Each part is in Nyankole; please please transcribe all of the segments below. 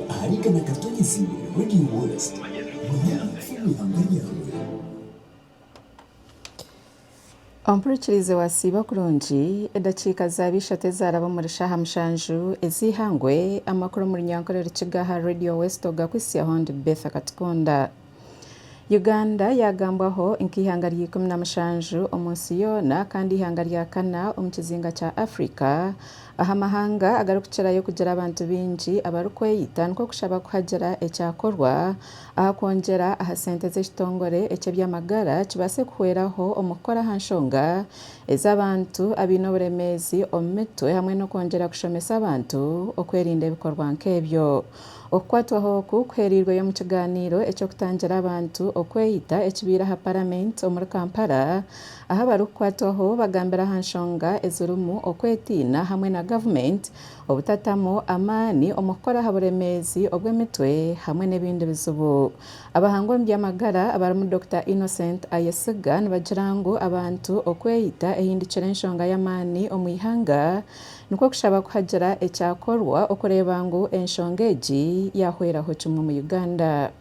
Ahari igana Katonyezi Radio West, Manya Kufuna Eihanga Ryawe. Ompurikirizi wasiiba kurungi, edakiika zaaba ishatu ezaaraba omuri shaaha mushanju ez'eihangwe, amakuru omuri nyankore Rukiga aha Radio West ogakwitsya Hon Betha Katikunda. Uganda yaagambwaho nk'eihanga rya ikumi na mushanju omu nsi yoona kandi eihanga rya kana omu kizinga kya Africa aha mahanga agarikukirayo kugira abantu baingi abarikweyita nikwo kushaba ku hagire ekyakorwa aha kwongyera aha sente z'ekitongore eky'eby'amagara kibaase kuhweraho omu kukora aha nshonga ez'abantu abaine oburemeezi omu mitwe hamwe n'okwongyera kushomesa abantu okwerinda ebikorwa nk'ebyo. Okukwatwaho oku kuheereirweyo omu kigaaniiro eky'okutangira abantu okweyita ekibaire aha Paramenti omuri Kampala, ahu abarikukwatwaho bagambire aha nshonga ezirimu okwetiina hamwe na Gavumenti obutatamu amaani omu kukora aha buremeezi obw'emitwe hamwe n'ebindi bizibu. Abahanga omu by'amagara abarimu Dokita Innocent Ayesiga nibagira ngu abantu okweyita ehindukire enshonga y'amaani omu ihanga, Nikwo kushaba kuhagira ekyakorwa okureeba ngu enshonga egi yaahweraho kimwe omu Uganda.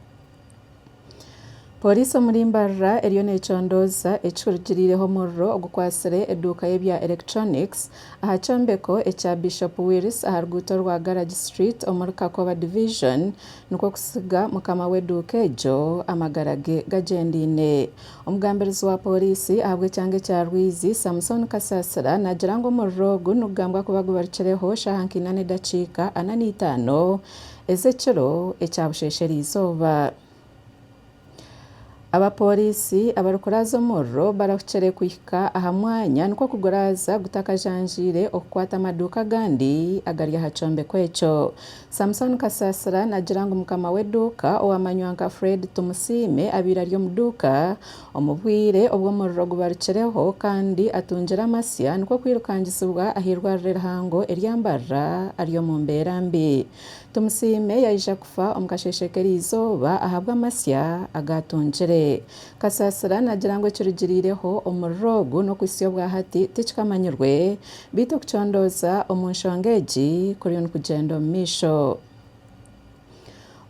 Pooriisi omuri Mbarara eriyo neecondooza ekihurikiriireho omuriro ogukwatsire eduuka y'ebya electronics aha kyombeko ekya Bishop Wills aha ruguuto rwa Garage Street omuri Kakoba Division nikwo kutsiga mukama w'eduuka egyo amagara ge gagyendeine. Omugambirizi wa pooriisi ahabw'ekyanga ekya Rwizi, Samson Kasaasira naagira ngu omuriro ogu nigugambwa kuba gubarikireho shaaha nkaina n'edakiika ana n'eitaano ez'ekiro ekyabusheeshera eizooba. Abapooriisi abarikuraaza omuriro barahukire kuhika aha mwanya nikwo kuguraaza gutakajanjaire okukwata amaduuka agandi agari aha kyombeko ekyo. Samson Kasasira naagira ngu mukama w'eduuka owamanywa nka Fred Tumusiime abaire ari omu duuka omu bwire obu omuriro gubarukireho kandi atungire amasya nikwo kwirukangisibwa ah'eirwariro erihango erya Mbarara ari omu mbeera mbi. Tumusiime yaija kufa omu kasheeshe k'erizooba ahabw'amasya agaatungire. Kasasira nagira ngu ekirugiriireho omuriro ogu n'okuhitsya obwahati tikikamanyirwe beitu okucondooza omu nshonga egi kuriyo nikugyenda omu maisho.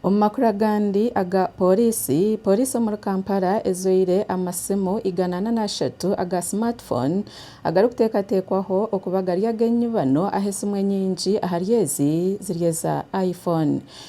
Omu makuru agandi aga pooriisi, pooriisi omuri Kampala ejwaire amasimu igana ana n'ashatu aga smart phone agarikuteekateekwaho okuba gari ag'enyibano ahu esimu enyingi ahari ezi ziri eza iPhone.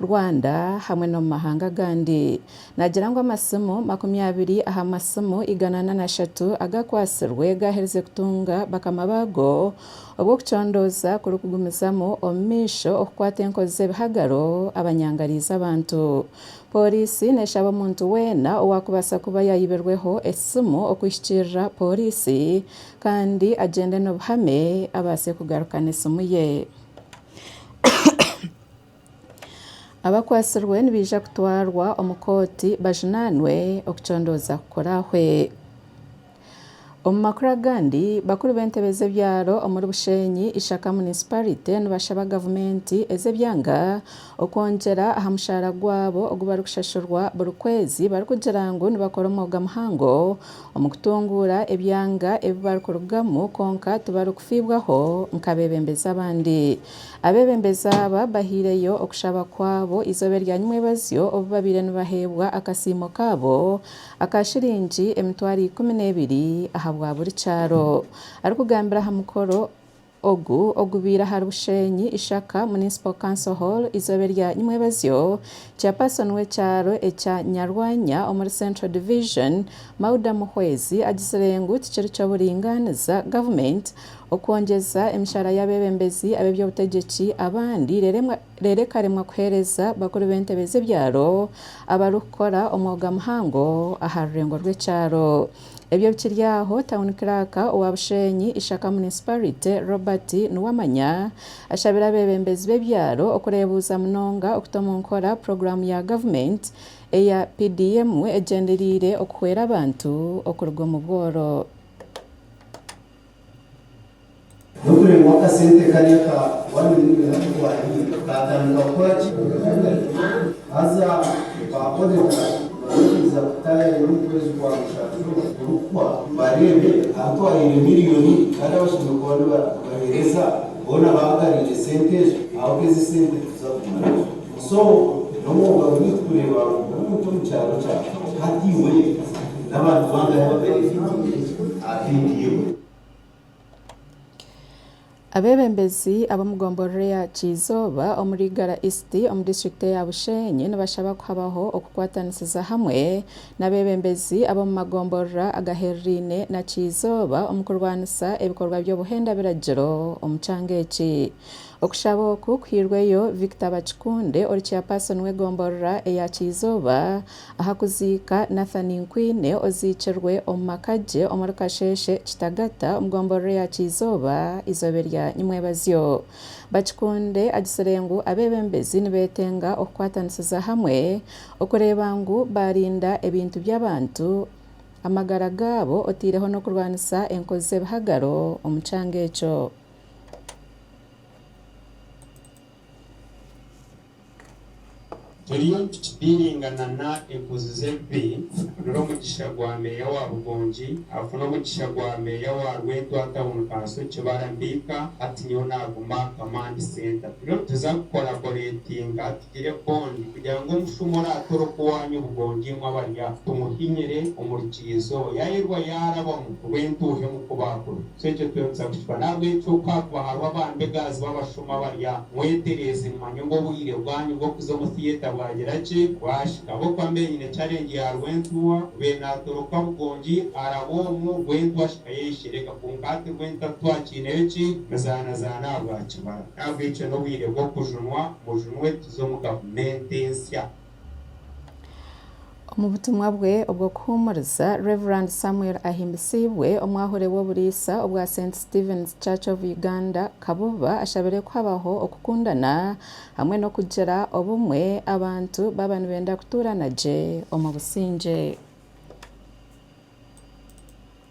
Rwanda hamwe n'omu mahanga agandi. Naagira ngu amasimu makumi abiri aha masimu igana na nashatu agakwatsirwe gaaherize kutunga bakama baago obwo okucondooza kurikugumizamu omu maisho okukwata enkozi z'ebihagaro abanyangariize abantu. Pooriisi neeshaba omuntu weena owaakubaasa kuba yaayibirweho esimu okwihikirira pooriisi kandi agyende n'obuhame abaase kugarukana esimu ye. Abakwatsirwe nibaija kutwarwa omu kooti bajunaanwe okucondooza kukurahwe. Omu makuru agandi, bakuru b'entebe z'ebyaro omuri Bushenyi Ishaka Munisiparite nibashaba gavumenti ez'ebyanga okwongyera aha mushaara gwabo ogu barikushashurwa buri kwezi barikugira ngu nibakora omwoga muhango omu kutunguura ebyanga ebi barikurugamu kwonka tibarikufiibwaho nk'abeebembezi abandi. Abeebembezi aba bahaireyo okushaba kwabo eizooba erya nyimwebazyo obu babaire nibaheebwa akasiimo kaabo aka shiringi emitwaro ikumi n'ebiri aha bwa buri kyaro. Arikugambira aha mukoro ogu ogubaire ahari Bushenyi Ishaka Municipal Council Hall eizooba erya nyimwebazyo, Chairperson w'ekyaro ekya Nyarwanya omuri Central Division, Mauda Muhwezi agitsire ngu tikiri ky'oburingaaniza Gavumenti okwongyeza emishaara y'abeebembezi ab'eby'obutegyeki abandi reero ekaremwa kuheereza bakuru b'entebe z'ebyaro abarikukora omwoga muhango aha rurengo rw'ekyaro. Ebyo bikiri aho, Town Clerk owa Busheenyi Ishaka Municipality, Robert Nuwamanya ashabire abeebembezi b'ebyaro okureebuuza munonga okuta omu nkora puroguraamu ya gavumenti eya PDM egyendereire okuhwera abantu okuruga omu bworo. N'okureeba obu akasente kari aka one million aku twariire kaatandika kukora ki? Haza ba odita barikwiija kutaayayo omu kwezi kwa mushanju kurikuhwa bareebe abu twariire miriyoni kandi abashemereire kuba nibatuheereza boona baagariire sente ezo, ahabw'oku ezi sente tituzaakugumayo. So nomwoga guri kureba omuntu omu kyaro kyawe hati iwe nabantu bangahe ababerekingiire aha video. Abebembezi ab'omu gomborora eya Kyizooba omuri Igara East omu district eya Bushenyi nibashaba kuhabaho okukwatanisiza hamwe n'abebembezi ab'omu magomborora agahereraine na Kyizooba omu kurwanisa ebikorwa by'obuhenda biragiro omu kyanga eki. Okushaba oku kuhairweyo Victor Bakikunde ori Chairperson w'egomborora eya Kyizooba aha kuziika Nathan Nkwiine oziikirwe omu maka gye omuri Kasheeshe Kitagata omu gomborora eya Kyizooba eizoobe rya Nyimwebazyo. Bakikunde agitsire ngu abeebembezi nibeetenga okukwatanisiza hamwe okureeba ngu baarinda ebintu by'abantu, amagara gaabo oteireho n'okurwanisa enkozi z'ebihagaro omu kyanga ekyo. Turiyo nitukidiringa nana enkozi z'ebibi kugira omugisha gwa meeya wa Bugongi afune omugisha gwa meeya wa Rwentwa Town Kansoki Barampika hati nyowe naguma Kamandi Center turiyo nituza kukoraboretinga Gire bond kugira ngu omushuuma oraatwore okuwaanya obugongi emwe abarya tumuhinyire omu rukiriizo yaayerirwa yaarabamu ngu entuuha emukubaakure. So ekyo twengutsya kukikora. N'ahabw'ekyo ku haakuba hariho abambegazi b'abashuuma abarya, mwetereeze mumanye ngu obwire bwanyu bw'okuza omu theatre bwagira ki? Bwahika. Ahabw'okuba mbeire nyine challenge ya Rwentuuha, mbeire naatwora oku Kabugongi araba omu, Rwentuuha ashika yeeshereka. Kwonka hati Rwentuuha titwakyineyo ki? Mizaanazaana aha rwa kibara. N'ahabw'ekyo n'obwire bw'okujunwa. Bujumwe tuze omu gavumenti ensya. Omu butumwa bwe obw'okuhuumuriza, Rev. Samuel Ahimbisiibwe, omwahure w'oburiisa obwa Saint Stephen's Church of Uganda, Kabuba, ashabire ku habaho okukundana hamwe n'okugira obumwe abantu baaba nibenda kutuurana gye omu busingye.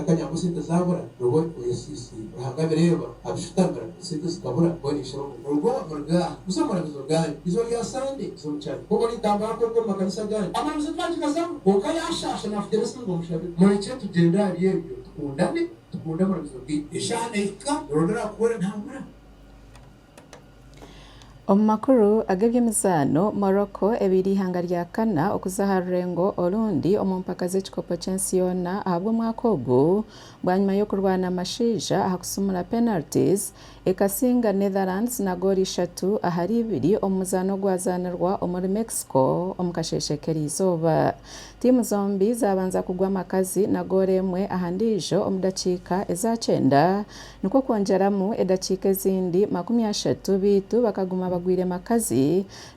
Akanya ngu sente zaabura nobwo oyesiisi Ruhanga abireeba abishutamira sente zikabura mbwenu aisha omu. Rugo murugye aha. Busa omurabizo gaanyu. Eizooba rya Sande nza omu kyaro. Nk'oku nintambura kwonka omu makanisa agaandi. Amaramuzo twagigazamu kwonka yaashaasha naafukira esimu ngu omushabire. Murekye tugyende ahari ebyo tukundane tukunde amaramuzo gaitu. Eshaaha neehika orondera aha kuhwera ntaahwera. Omu makuru ag'ebyemizaano, Morocco ebaire eihanga rya kana okuza aha rurengo orundi omu mpaka z'ekikopo ky'ensi yoona ahabw'omwaka ogu bwanyima y'okurwana amashaija aha kusumura penalties ekasinga Netherlands na goolo ishatu ahari ibiri omu muzaano ogwazaanirwa omuri Mexico omu kasheeshe k'erizooba. Tiimu zombi zaabanza kugwa amakazi na goolo emwe aha ndiijo omu dakiika eza kyenda Nikwo kwongyeramu edakiika ezindi makumi ashatu beitu bakaguma bagwire makazi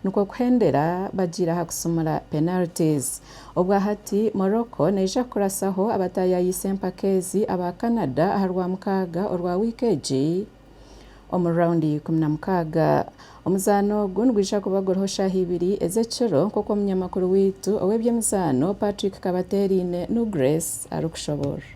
nikwo kuhendera bagiire aha kusumura penalties. Obwa hati Morocco neija kukurasaho abataayaayise empaka ezi aba Canada aha Rwamukaaga orwa wiiki egi omu round y'eikumi na mukaaga. Omuzaano ogu nigwija kubagurwaho shaaha ibiri ez'ekiro nk'oku omunyamakuru waitu ow'eby'emizaano Patrick Kabateeraine, Nugres, arikushoboorora.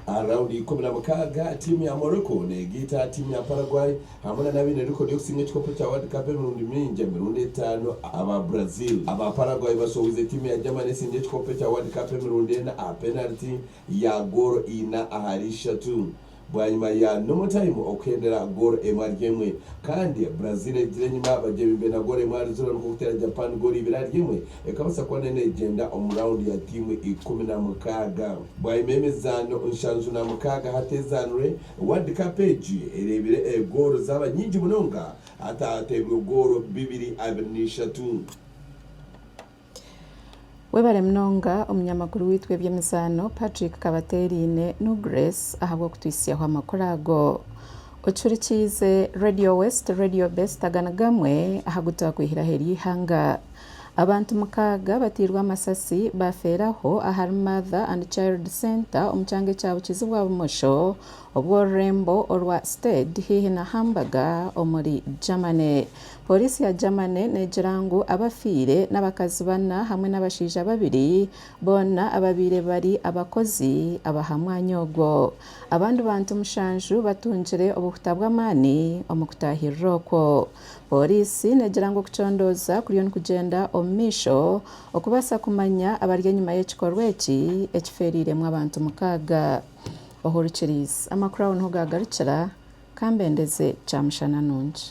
Aha raunda ya ikumi na mukaaga, tiimu ya Morocco neegaita aha tiimu ya Paraguay hamwe nana abaine rekoodi y'okusinga ekikopo kya World Cup emirundi mingi, emirundi etaano aba Brazil. Aba Paraguay bashohoize tiimu ya Germany esinga ekikopo kya World Cup emirundi ena aha penariti ya goolo ina ahari ishatu. Bwanyima ya normal time okuhendera goolo emwe ahari emwe kandi Brazil egire enyima bagye bimbe na goolo emwe ahari ziro nikwo kuteera Japan goolo ibiri ahari emwe ekabaasa kuba nayo neegyenda omu raawundi ya tiimu ikumi na mukaaga. Bwanyima y'emizaano nshanju na mukaaga hateezaanirwe, World Cup egi ereebire goolo zaaba nyingi munonga hatateebirwe goolo bibiri abiri na ishatu. Webare munonga omunyamakuru waitu w'eby'emizaano Patrick Kabateeraine nu Grace ahabw'okutwitsyaho amakuru ago. Ocuhurikiize Radio West Radio Best aga ni gamwe aha gu twakwihiraho ery'eihanga. Abantu mukaaga batairwe amasasi baafeera aho ahari Mother and Child Centre omu kyanga ekya Bukizi bwa bumosho obw'orurembo orwa Stade haihi na Hamburger omuri Germany. Poliisi ya Germany neegira ngu abafiire n'abakazi bana hamwe n'abashaija babiri, boona ababaire bari abakozi ab'aha mwanya ogwo. Abandi bantu mushanju batungire obuhuta bw'amaani omu kutaahirira okwo. Poliisi neegira ngu okucondooza kuriyo nikugyenda omu maisho okubaasa kumanya abari enyima y'ekikorwa eki ekifeereiremu abantu mukaaga. Ohurukiriize, amakuru aho niho gaagarukira. Kambendeze kyamushana nungi.